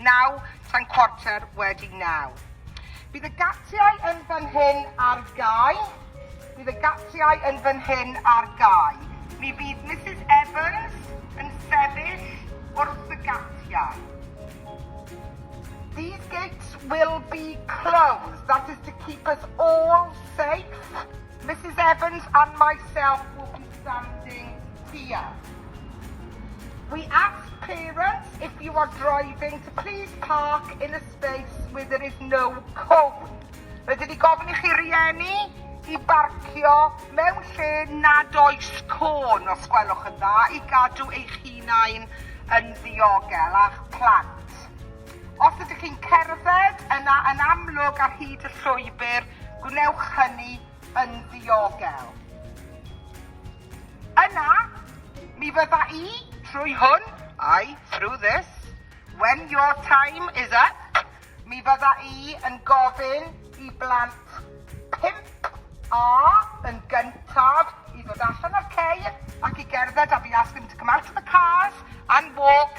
Naw tan cwarter wedi naw. Bydd y gatiau yn fan hyn ar gau. Bydd y gatiau yn fan hyn ar gau. Mi fydd Misus Evans yn sefyll wrth y gatiau. These gates will be closed, that is to keep us all safe. Misus Evans and myself will be standing here. We ask parents if you are driving to please park in a space where there is no cone. Rydyn ni gofyn i chi rieni i barcio mewn lle nad oes côn, os gwelwch yn dda, i gadw eich hunain yn ddiogel a'ch plant. Os ydych chi'n cerdded, yna yn amlwg ar hyd y llwybr, Gwnewch hynny yn ddiogel. Yna, mi fydda i, trwy hwn, I, through this, when your time is up, mi fydda i yn gofyn i blant pimp A yn gyntaf i ddod allan o'r ceir ac i gerdded a fi ask them to come out of the cars and walk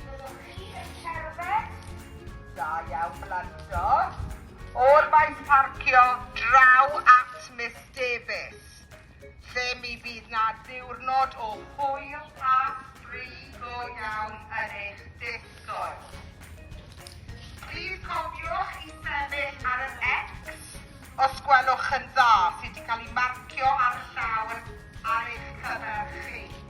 Byddwch chi yn cerdded? Da iawn blandod. O'r faint parcio draw at Miss Davies, lle mi fydd na ddiwrnod o hwyl a ffri go iawn yn eich disgwyl. Plîs cofiwch i sefyll ar yr X os gwelwch yn dda sydd wedi cael ei marcio ar y llawr ar eich cyfer chi.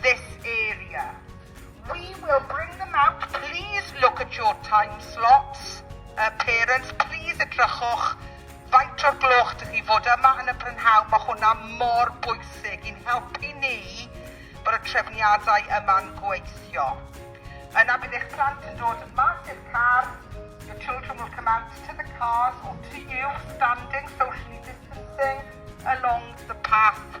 this area. We will bring them out, please look at your time slots. Uh, parents, please edrychwch faint o'r gloch dych chi fod yma yn y prynhawn, mae hwnna mor bwysig i'n helpu ni bod y trefniadau yma'n gweithio. Yna bydd eich plant yn dod mas i'r car, your children will come out to the cars or to you, standing, socially distancing along the path.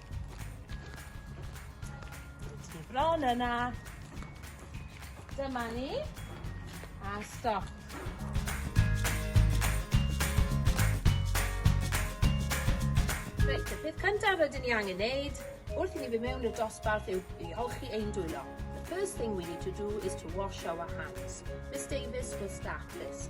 Ti bron yna. Dyma ni. A stop. Reit, y peth cyntaf rydyn ni angen neud wrth i ni fy mewn i'r dosbarth yw i olchi ein dwylo. The first thing we need to do is to wash our hands. Miss Davis will start this.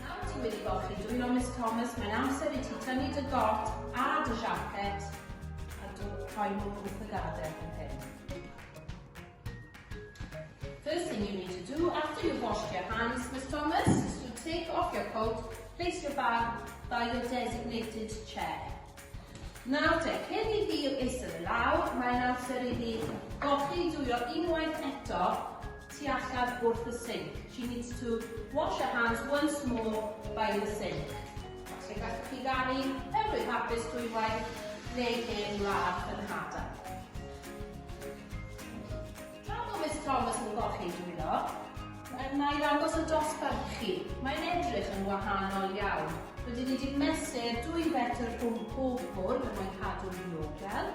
Nawr ti wedi golchi dwylo Miss Thomas, mae'n amser i ti tynnu dy got a dy siacet a rhoi nhw wrth y gadair fan hyn. First thing you need to do after you've washed your hands, Miss Thomas, is to take off your coat, place your bag by your designated chair. Nawr te, cyn i fi eistedd i lawr, mae'n amser i ni golli dwyo unwaith eto tu allan wrth y sinc. She needs to wash her hands once more by the sink. Falle gallwch chi ganu Heddlu'n Hapus dwywaith neu Hen Wlad fy Nhad-a. Pam bod Mister Thomas yn golchi dwylo? Wna i ddangos y dosbarth chi. Mae'n edrych yn wahanol iawn. Rydyn ni wedi mesur dwy fetr rhwng pob bwrdd er mwyn cadw'n ddiogel.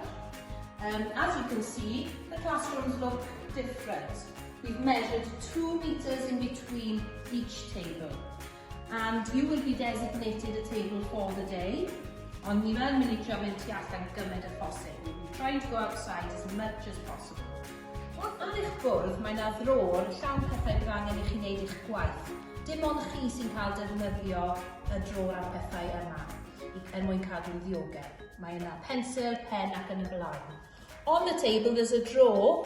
Um, as you can see, the classrooms look different. We've measured two metres in between each table. And you will be designated a table for the day. Ond ni fel mynd i trio mynd tu allan gymaint â phosib. We will try to go outside as much as possible. Wrth ar eich bwrdd mae na ddrôr llawn pethau bydd angen i chi wneud eich gwaith. Dim ond chi sy'n cael defnyddio y drôr a'r pethau yma i, er mwyn cadw'n ddiogel. Mae yna pensil, pen ac yn y blaen. On the table there's a drawer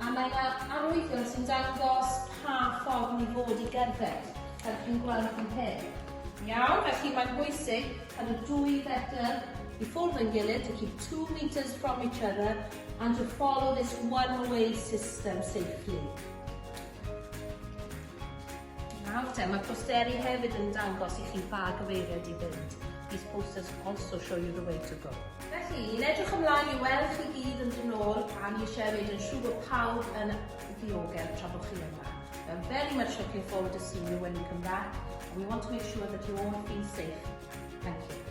A mae yna arwyddion sy'n dangos pa ffordd ni fod i gerdded, fel chi'n gweld fan hyn. Iawn, felly mae'n bwysig cael y dwy fetr i ffwrdd yn gilydd, to keep two metres from each other, and to follow this one-way system safely. Nawr te, mae posteri hefyd yn dangos i chi pa gyfeiriad i fynd. These posters also show you the way to go. Felly, ni'n edrych ymlaen i weld chi gyd yn dod yn ôl a ni eisiau wneud yn siŵr bod pawb yn ddiogel tra bod chi yma. We are very much looking forward to seeing you when you come back and we want to make sure that you all have been safe. Thank you.